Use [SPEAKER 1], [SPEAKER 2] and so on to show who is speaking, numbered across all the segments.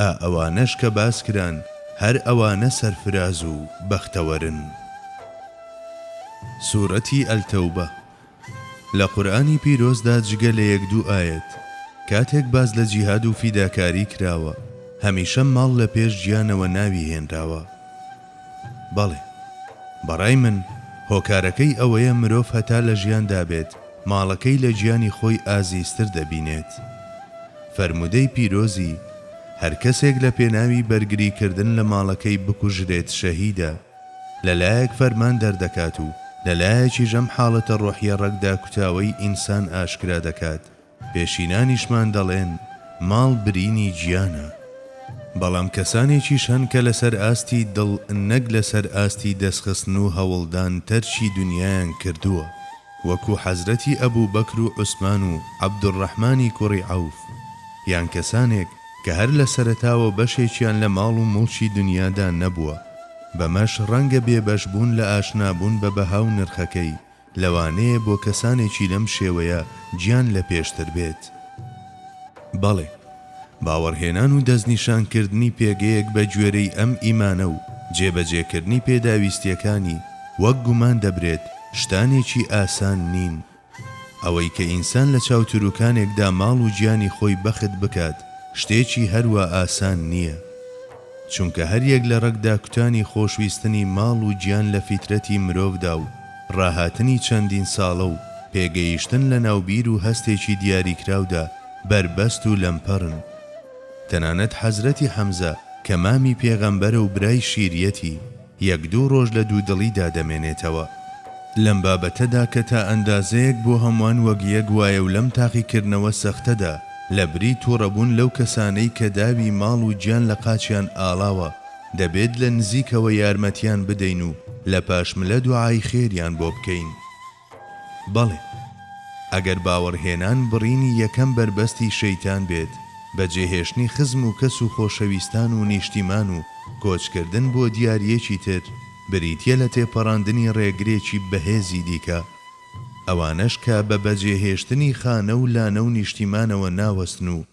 [SPEAKER 1] ئا ئەوانەش کە باس کران هەر ئەوانە سەرفراز و بەختەوەرن. سورەتی التوبە، لە قورئانی پیرۆزدا جگە لە یەک دوو ئایەت کاتێک باس لە جیهاد و فیداکاری کراوە هەمیشە ماڵ لە پێش گیانەوە ناوی هێنراوە، بەڵێ. بەڕای من هۆکارەکەی ئەوەیە مرۆڤ هەتا لە ژیاندا بێت ماڵەکەی لە گیانی خۆی ئازیزتر دەبینێت. فەرموودەی پیرۆزی، هەر کەسێک لە پێناوی بەرگری کردن لە ماڵەکەی بکوژرێت شەهیدە، لە لایەک فەرمان دەردەکات و لە لایەکیش ئەم حاڵەتە ڕۆحیە ڕەگداکوتاوەی ئینسان ئاشکرا دەکات. پێشینانیشمان دەڵێن ماڵ برینی گیانە، بەڵام کەسانێکیش هەن کە لەسەر ئاستی دڵ نەک لەسەر ئاستی دەستخستن و هەوڵدان تەرکی دونیایان کردووە، وەکو حەزرەتی ئەبوبەکر و عوسمان و عەبدولڕەحمانی کوڕی عەوف، یان کەسانێک کە هەر لە سەرەتاوە بەشێکیان لە ماڵ و موڵکی دونیادا نەبووە، بەمەش ڕەنگە بێبەشبوون لە ئاشنابوون بە بەها و نرخەکەی، لەوانەیە بۆ کەسانێکی لەم شێوەیە گیان لە پێشتر بێت. بەڵێ، باوەڕهێنان و دەستنیشانکردنی پێگەیەک بە گوێرەی ئەم ئیمانە و جێبەجێکردنی پێداویستییەکانی وەک گومان دەبرێت شتانێکی ئاسان نین. ئەوەی کە ئینسان لە چاو تروکانێکدا ماڵ و گیانی خۆی بەخت بکات شتێکی هەروا ئاسان نییە. چونکە هەریەک لە ڕەگ داکوتانی خۆشویستنی ماڵ و گیان لە فیترەتی مرۆڤدا و ڕاهاتنی چەندین ساڵە و پێگەیشتن لە ناو بیر و هەستێکی دیاریکراودا بەربەست و لەمپەرن. تەنانەت حەزرەتی حەمزە کە مامی پێغەمبەرە و برای شیریەتی، یەک دوو ڕۆژ لە دوودڵیدا دەمێنێتەوە لەم بابەتەدا کە تا ئەندازەیەک بۆ هەمووان وەک یەک وایە و لەم تاقیکردنەوە سەختەدا لە بری توڕەبوون لەو کەسانەی کە داوی ماڵ و گیان لە قاچیان ئاڵاوە دەبێت لە نزیکەوە یارمەتیان بدەین و لە پاشملە دوعای خێریان بۆ بکەین. بەڵێ، ئەگەر باوەڕهێنان بڕینی یەکەم بەربەستی شەیتان بێت، بەجێهێشتنی خزم و کەس و خۆشەویستان و نیشتیمان و کۆچکردن بۆ دیارییەکی تر، بریتییە لە تێپەڕاندنی ڕێگرێکی بەهێزی دیکە. ئەوانەش کە بە بەجێهێشتنی خانە و لانە و نیشتیمانەوە ناوەستن و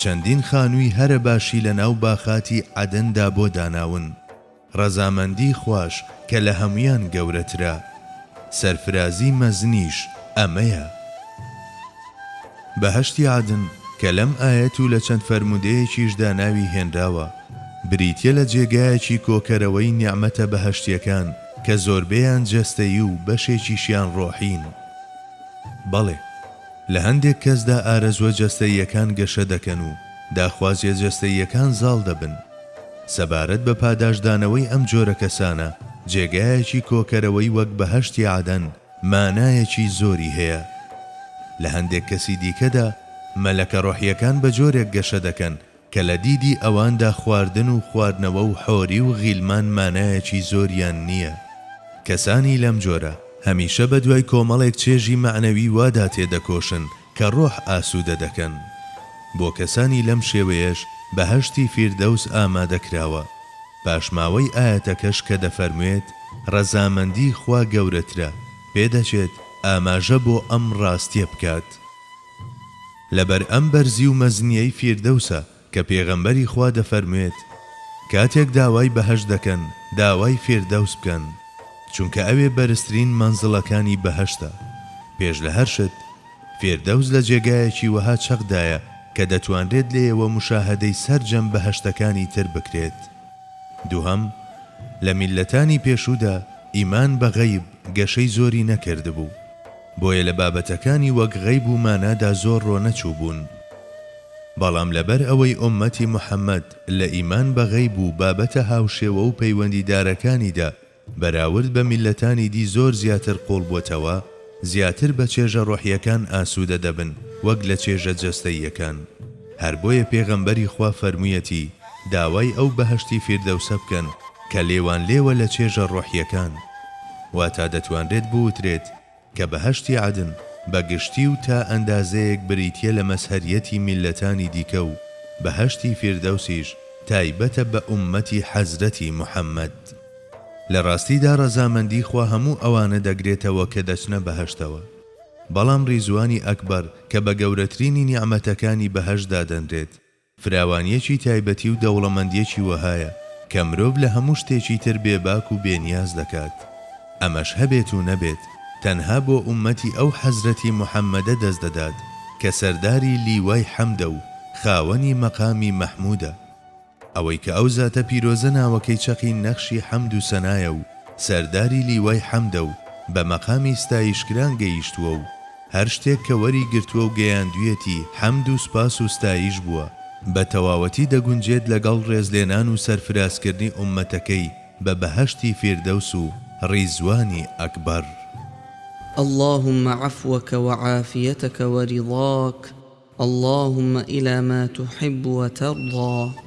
[SPEAKER 1] چەندین خانووی هەرە باشی لە ناو باخاتی عەدن دا بۆ داناون. ڕەزامەندی خواش کە لە هەموویان گەورەترە. سەرفرازی مەزنیش ئەمەیە. بەهەشتی عەدن کە لەم ئایەت و لە چەند فەرموودەیەکیش دا ناوی هێنراوە، بریتیە لە جێگایەکی کۆکەرەوەی نیعمەتە بەهەشتیەکان کە زۆربەیان جەستەیی و بەشێکیشیان ڕۆحین. بەڵێ. لە هەندێک کەسدا ئارەزووە جەستەییەکان گەشە دەکەن و داخوازییە جەستەییەکان زاڵ دەبن. سەبارەت بە پاداشتدانەوەی ئەم جۆرە کەسانە، جێگایەکی کۆکەرەوەی وەک بەهەشتی عەدەن مانایەکی زۆری هەیە. لە هەندێک کەسی دیکەدا، مەلەکە ڕۆحییەکان بە جۆرێک گەشە دەکەن کە لە دیدی ئەواندا خواردن و خواردنەوە و حۆری و غیلمان مانایەکی زۆریان نییە. کەسانی لەم جۆرە هەمیشە بە دوای کۆمەڵێک چێژی مەعنەوی وادا تێدەکۆشن کە ڕۆح ئاسوودە دەکەن. بۆ کەسانی لەم شێوەیەش بەهەشتی فیردەوس ئامادە کراوە. پاشماوەی ئایەتەکەش کە دەفەرموێت، ڕەزامەندیی خوا گەورەترە، پێدەچێت ئاماژە بۆ ئەم ڕاستییە بکات. لەبەر ئەم بەرزی و مەزنیەی فیردەوسە کە پێغەمبەری خوا دەفەرموێت، کاتێک داوای بەهەشت دەکەن داوای فیردەوس بکەن، چونکە ئەوێ بەرزترین مەنزڵەکانی بەهەشتە، پێش لە هەر شت، فیردەوس لە جێگایەکی وەها چەقدایە کە دەتوانرێت لێیەوە موشاهەدەی سەرجەم بەهەشتەکانی تر بکرێت. دووهەم، لە میللەتانی پێشوودا ئیمان بە غەیب گەشەی زۆری نەکردبوو، بۆیە لە بابەتەکانی وەک غەیب و مانادا زۆر رۆ نەچووبوون. بەڵام لەبەر ئەوەی ئۆممەتی موحەممەد لە ئیمان بە غەیب و بابەتە هاوشێوە و پەیوەندیدارەکانیدا بەراورد بە میللەتانی دی زۆر زیاتر قووڵ بۆتەوە، زیاتر بە چێژە رۆحییەکان ئاسوودە دەبن وەک لە چێژە جەستەییەکان. هەر بۆیە پێغەمبەری خوا فەرموویەتی. داوای ئەو بەهەشتی فیردەوسە بکەن کە لێوان لێوە لە چێژە ڕۆحییەکان. واتە دەتوانرێت بوترێت کە بەهەشتی عەدن بە گشتی و تا ئەندازەیەک بریتییە لە مەزهەریەتی میللەتانی دیکە و بەهەشتی فیردەوسیش تایبەتە بە ئوممەتی حەزرەتی محەممەد. لە ڕاستیدا ڕەزامەندی خوا هەموو ئەوانە دەگرێتەوە کە دەچنە بەهەشتەوە. بەڵام ڕیزوانی ئەکبەر کە بە گەورەترینی نیعمەتەکانی بەهەشت دادەنرێت، فراوانییەکی تایبەتی و دەوڵەمەندییەکی وەهایە کە مرۆڤ لە هەموو شتێکی تر بێباک و بێنیاز دەکات. ئەمەش هەبێت و نەبێت، تەنها بۆ ئوممەتی ئەو حەزرەتی موحەممەدە دەست دەدات کە سەرداری لیوای حەمدە و خاوەنی مەقامی مەحموودە. ئەوەی کە ئەو زاتە پیرۆزە ناوەکەی چەقی نەخشی حەمد و سەنایە و سەرداری لیوای حەمدە و بە مەقامی ستایشکران گەییشتووە و، هەر شتێک کە وەری گرتووە و گەیاندویەتی حەمد و سوپاس و ستاییش بووە، بە تەواوەتی دەگونجێت لەگەڵ ڕێزلێنان و سەرفرازکردنی ئوممەتەکەی بە بەهەشتی فیردەوس و ڕیزوانی ئەکبەر.
[SPEAKER 2] اللهم عفوک و عافیتک و رضاک اللهم الی ما تحب و ترضی.